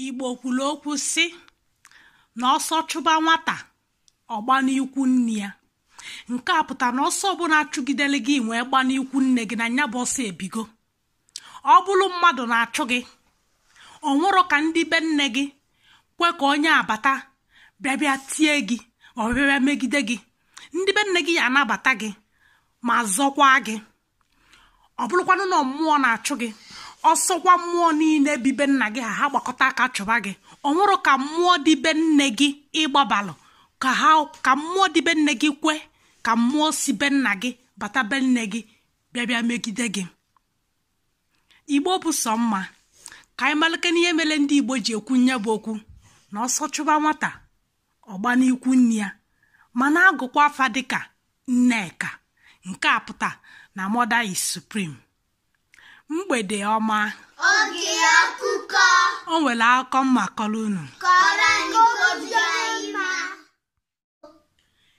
igbo kwuru okwu sị na ọsọ chụba nwata ọ gbaa n'ikwu nne ya nke a pụta na ọsọ ọbụla a chụgidere gị i wee gbaa n'ikwu nne gị na nya bụ ọsọ ebigo ọ bụrụ mmadụ na-achụ gị o nwerọ ka ndị be nne gị kwe ka onye a bata bịa bịa tie gị ọ bịa bịa megide gị ndị be nne gị ya-anabata gị ma zọkwa gị ọ bụrụkwanụ na mmụọ na-achụ gị ọ sọkwa mmụọ niile bi be nna gị ha ha gbakọta aka chụba gị o nwerọ ka mmụọ dị be nne gị ị gbabalụ ka ha ka mmụọ dị be nne gị kwe ka mmụọ si be nna gị bata be nne gị bịa bịa megide gị igbo bụ sọ mma ka anyị malịkene ihe mere ndị igbo ji ekwu nya bụ okwu na ọsọ chụba nwata ọ gbaa n'ikwu nne ya ma na-agụkwa afa dịka nneka nke a pụta na mother is supreme mgbede ọma oge akụkọ o nwere akụkọ m ma-akọrọ unu kọọrọ anyị obi anyị mma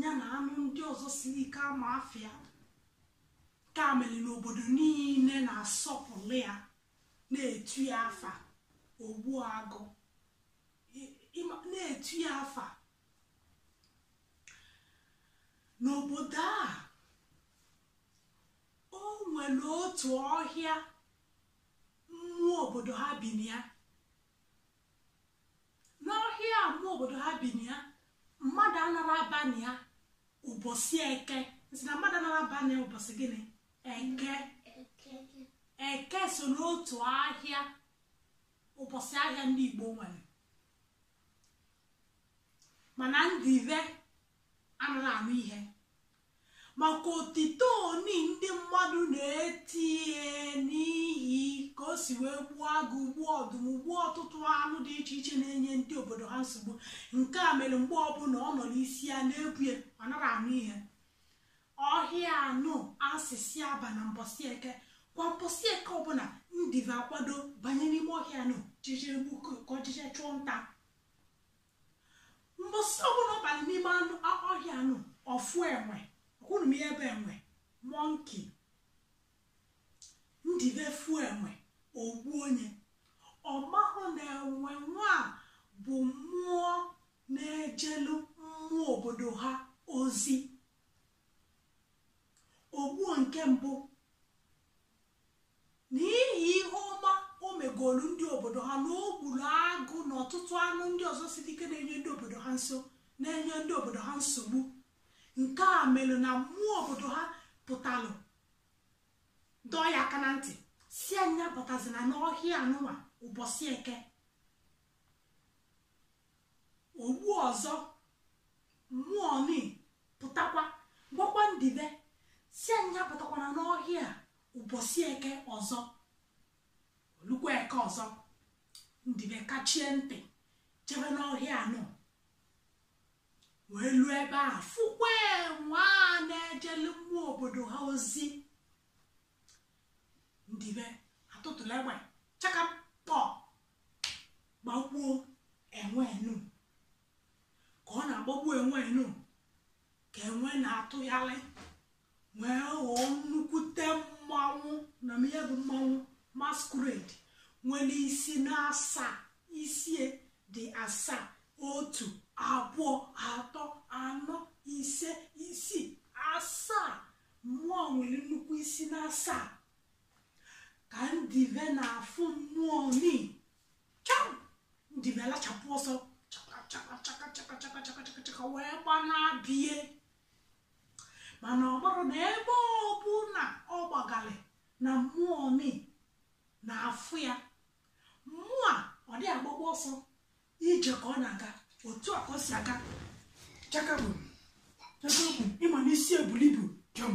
ya na anụ ndị ọzọ siri ike ama afịa nke a mere na obodo niile na-asọpụrụ ya na-etu ya afa ogbu agụ na-etu ya afa n'obodo a o nwere otu ọhịa mmụọ obodo ha bi na ya n'ọhịa mmụọ obodo ha bi na ya mmadụ anara aba na ya ụbọchị eke m sị na mmadụ anara aba na ya ụbọchị gịnị eke eke so n'otu ahịa ụbọchị ahịa ndị igbo nwere mana ndive anaghị anụ ihe maka otito oni ndị mmadụ na-etu ya n'ihi ka o si wee gbuo agụ gbuo ọdụm gbuo ọtụtụ anụ dị iche iche na-enye ndị obodo ha nsogbu nke a mere mgbe ọbụla ọ nọrọ isi ya na-ebu ya ọ nara anụ ihe ọhịa ahụ a sị sị abana mbọsị eke kwa mbọsị eke ọbụla ndive akwado banye n'ime ọhịa ahụ jije gbu ka ọ jije chụọ nta mbọsị ọbụla ọ bara n'ime ọhịa ahụ ọ fụ enwe ọkwa unu ma ihe bụ enwe monkey ndive fụ enwe o gbuo nya ọ mahụ na enwe nwa bụ mmụọ na-ejelu mmụọ obodo ha ozi o gbuo nke mbụ n'ihi ihe ọma o megolu ndị obodo ha na o gbulu agụ na ọtụtụ anụ ndị ọzọ siri ike na-enye ndị obodo ha nso na-enye ndị obodo ha nsogbu nke a melu na mmụọ obodo ha pụtalụ dọọ ya aka na ntị sị a nya pụtazina n'ọhịa nụnwa ụbọchị eke ugbo ọzọ mmụọ ni pụtakwa gwakwa ndibe sị a nya pụtakwana n'ọhịa ụbọchị eke ọzọ o lukwa eke ọzọ ndibe kachie ntị jebe n'ọhịa anụ wee luo ebe a fụkwa enwe a na-ejelu mmụọ obodo ha ozi ndibe atụtụlụ egbe chakapọ gbagbuo enwe enu ka ọ na-agbagbu enwe enu ka enwe na-atụghalị wee ghọọ nnukwute mmanwụ unu ma ihe bụ mmanwụ masquerade nwelu isi na asaa isi e dị asaa otu abụọ atọ anọ ise isii asaa mmụọ nwelu nnukwu isi na asaa ka ndive na-afụ mmụọ ni cham ndibe alachapụ ọsọ chakachakachakachakachakachaka wee gbanaa be ya mana ọ bụrụ na ebe ọbụna ọ gbagalị na mmụọ ni na-afụ ya mmụọ a ọ dị agbakwa ọsọ ije ka ọ na-aga otu a ka o si aga chakabụ chakabụ ị ma na isi e bulu ibu jọm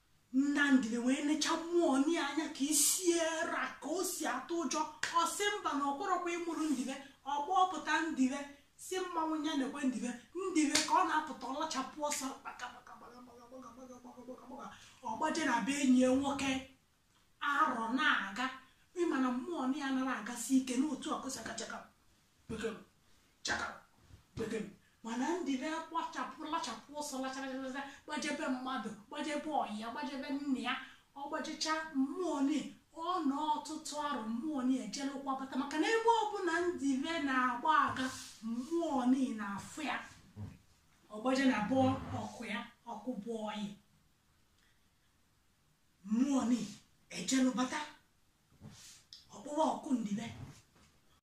nna ndibe wee necha mmụọ ni anya ka isi e ra ka o si atụ ụjọ ọ sị mba na ọ bụrọkwa ya mụrụ ndibe ọ kpọpụta ndibe sị mmanwụ ya nekwa ndibe ndibe ka ọ na-apụta ọ lachapụ ọsọ ọ gbaje na be enyi ya nwoke arọ na-aga ị ma na mmụọ ni anara agasi ike na otu a ka o si aga chaka bekee chaka bekee mana ndibe agbachapụ lachapụ ọsọ lacharachacha gbaje be mmadụ gbaje be ọyị ya gbaje be nna ya ọ gbajecha mmụọ ni ọ nọ ọtụtụ arụ mmụọ ni ejelukwa bata maka na ebe ọbụna ndibe na-agba aga mmụọ ni na-afụ ya ọ gbaje na be ọkwụ ya ọkwụ bụ ọyị mmụọ ni ejelu bata ọ kpọwa oku ndibe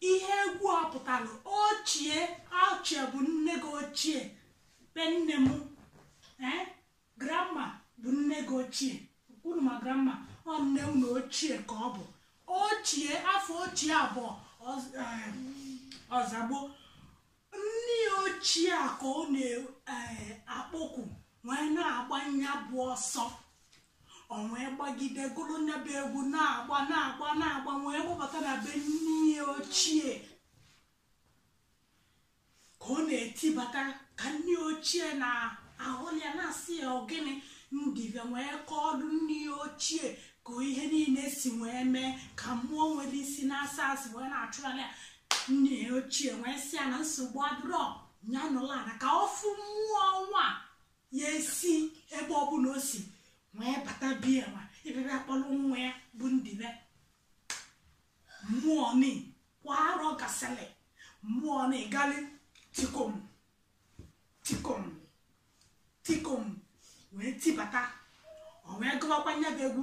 ihe egwu a pụtalụ ochie ochie bụ nne gị ochie be nne m ee grandma bụ nne gị ochie unu ma grandma ọ nne unu ochie ka ọ bụ ochie afọ ochie abụọ ọz- eh, ọzagbo nne ya ochie a ka ọ na-akpọku wee na-agba ya bụ ọsọ o wee gbagide gụrụ nya bụ egwu na-agba na-agba na-agba wee gbabata na be nne ya ochie ka ọ na-etibata ka nne ochie na-ahụ ya na-asị ya ọ gịnị ndịbe wee kọọrọ nne ya ochie ka ihe niile si wee mee ka mmụọ nwere isi n'asaa si wee na-achụgharị ya nne ya ochie wee sị ya na nsogbu adịrọ ya nọlụ ana ka ọ fụ mmụọ nwa ya esi ebe ọbụla o si wee bata be ya nwa ịbịa akpọrọ nwa ya bụ ndịbe mmụọ ni kwa arọ gasịrị mmụọ ni galị tikom tikom tikom wee tibata o wee gụwakwa nya bụ egwu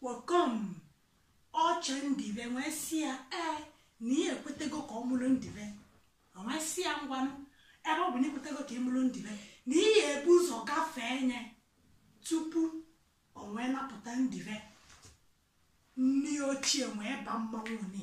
kpọkọm ochie ndịbe wee sị ya ee na ya ekwetego ka ọ mụrụ ndịbe o wee sị ya ngwanụ ebe ọ bụ na i kwetego ka ị mụrụ ndịbe na ị ya ebu ụzọ gafee nye tupu o wee napụta ndịbe nne ochie wee ba mmanwụ ni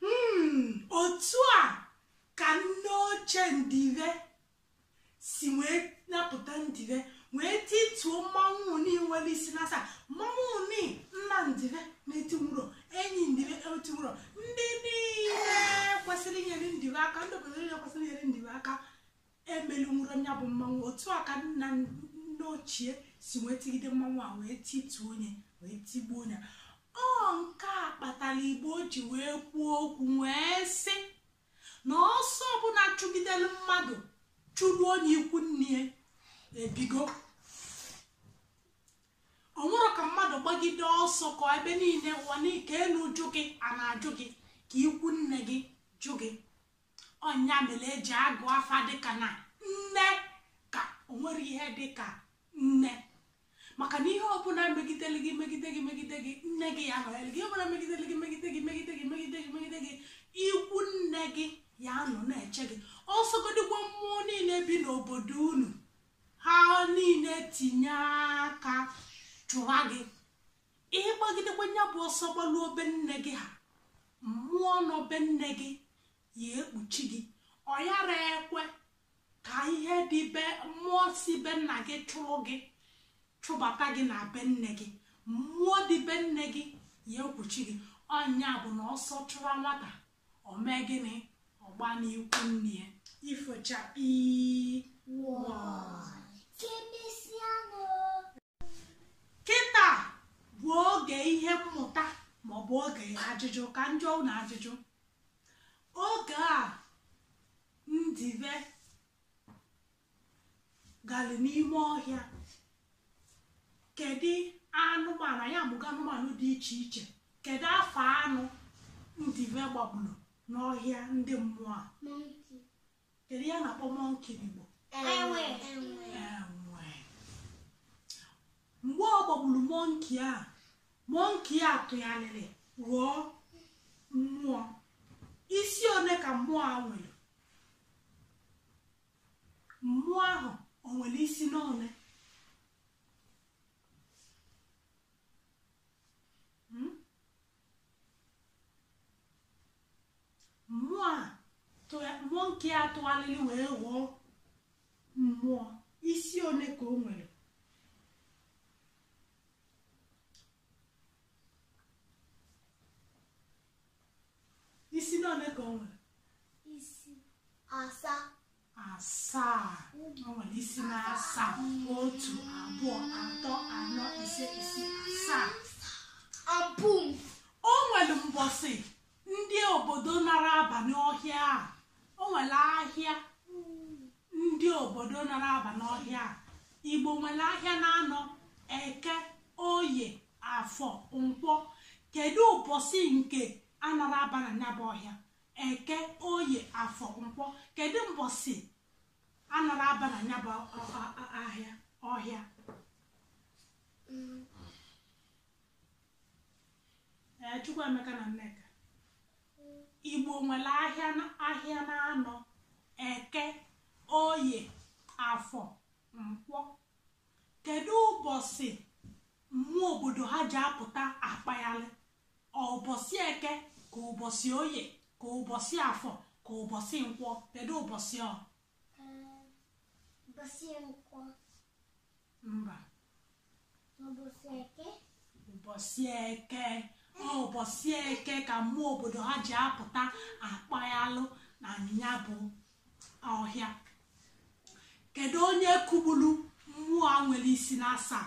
Hmm, otu a ka nne ochie ndịbe si wee napụta ndịbe wee tituo mmanwụ ni nwere isi n'asaa mmanwụ ni nna ndịbe na-etinwurọ enyi ndịbe etinwurọ ndị niile kwesịrị inyere ndịbe aka ndị obodo niile kwesịrị inyere ndịbe aka emelinwurọ ya bụ mmanwụ otu a ka nna nne ochie si wee tigide mmanwụ a wee tituo nye wee tigbuo nye ọ nke a kpatara igbo ji wee kwuo okwu wee sị na ọsọ ọbụla chụgidere mmadụ chụruo nye ikwu nne ya ebigo o nwerọ ka mmadụ gbagide ọsọ ka ebe niile ụwa nke elu jụ gị a na-ajụ gị ka ikwu nne gị jụ gị ọ nya mere e ji agụ afa dịka na nne ka o nwerọ ihe dị ka nne maka na ihe ọbụla megidere gị megide gị megide gị nne gị ya anọnyere gị ihe ọbụla megidere gị megide gị megide gị megide gị megide gị ikwu nne gị ya anọ na-eche gị ọ sọgodịkwa mmụọ niile bi n'obodo unu ha niile tinye aka chụwa gị ị gbagidekwa ya bụ ọsọ gbaluo be nne gị ha mmụọ nọ be nne gị ya ekpuchi gị ọ yarọ ekwe ka ihe dị be mmụọ si be nna gị chụrụ gị chụbata gị na be nne gị mmụọ dị be nne gị ya ekpuchi gị ọ nya bụ na ọsọ chụwa nwata o mee gịnị ọ gbana ikwu nne ya ifo chakpii kịta bụ oge ihe mmụta maọbụ oge ajụjụ ka njụọ ụnụ ajụjụ oge a ndive galị n'ime ọhịa kedu anụmanụ anyị amụgo anụmanụ dị iche iche kedu afa anụ ndive gbagburu n'ọhịa ndị mmụọ a kedu ihe a na-akpọ mọnki n'igbo enwe enwe mgbe ọ gbagburu mọnki a mọnki a tụgharịrị ghọọ mmụọ isi one ka mmụọ a nwere mmụọ ahụ o nwere isi n'one mmụọ a mọnki a tụgharịrị wee ghọọ mmụọ isi one ka o nwere isi na one ka o nwere isi asaa asaa o nwere isi na asaa otu abụọ atọ anọ ise isii asaa abụm o nwere mbọsị ndị obodo nara aba n'ọhịa a o nwere ahịa ndị obodo nara aba n'ọhịa a igbo nwere ahịa na anọ eke oye afọ nkwọ kedu ụbọchị nke anara aba na ya bụ ọhịa eke oye afọ nkwọ kedu mbọsị anara aba na ya bụ ahịa ọhịa ee chukwuemeka na nneka igbo nwere ahịa na- ahịa na anọ eke oye afọ nkwọ kedu ụbọchị mmụọ obodo ha ji apụta akpaghalị ọ ụbọchị eke ka ụbọchị oye ka ụbọchị afọ ka ụbọchị nkwọ kedu ụbọchị ọ ụbọchị nkwọ mba ụbọchị eke ụbọchị eke ọ ụbọchị eke ka mmụọ obodo ha ji apụta akpaghalụ na ya bụ ọhịa kedu onye kụgburu mmụọ a nwere isi na asaa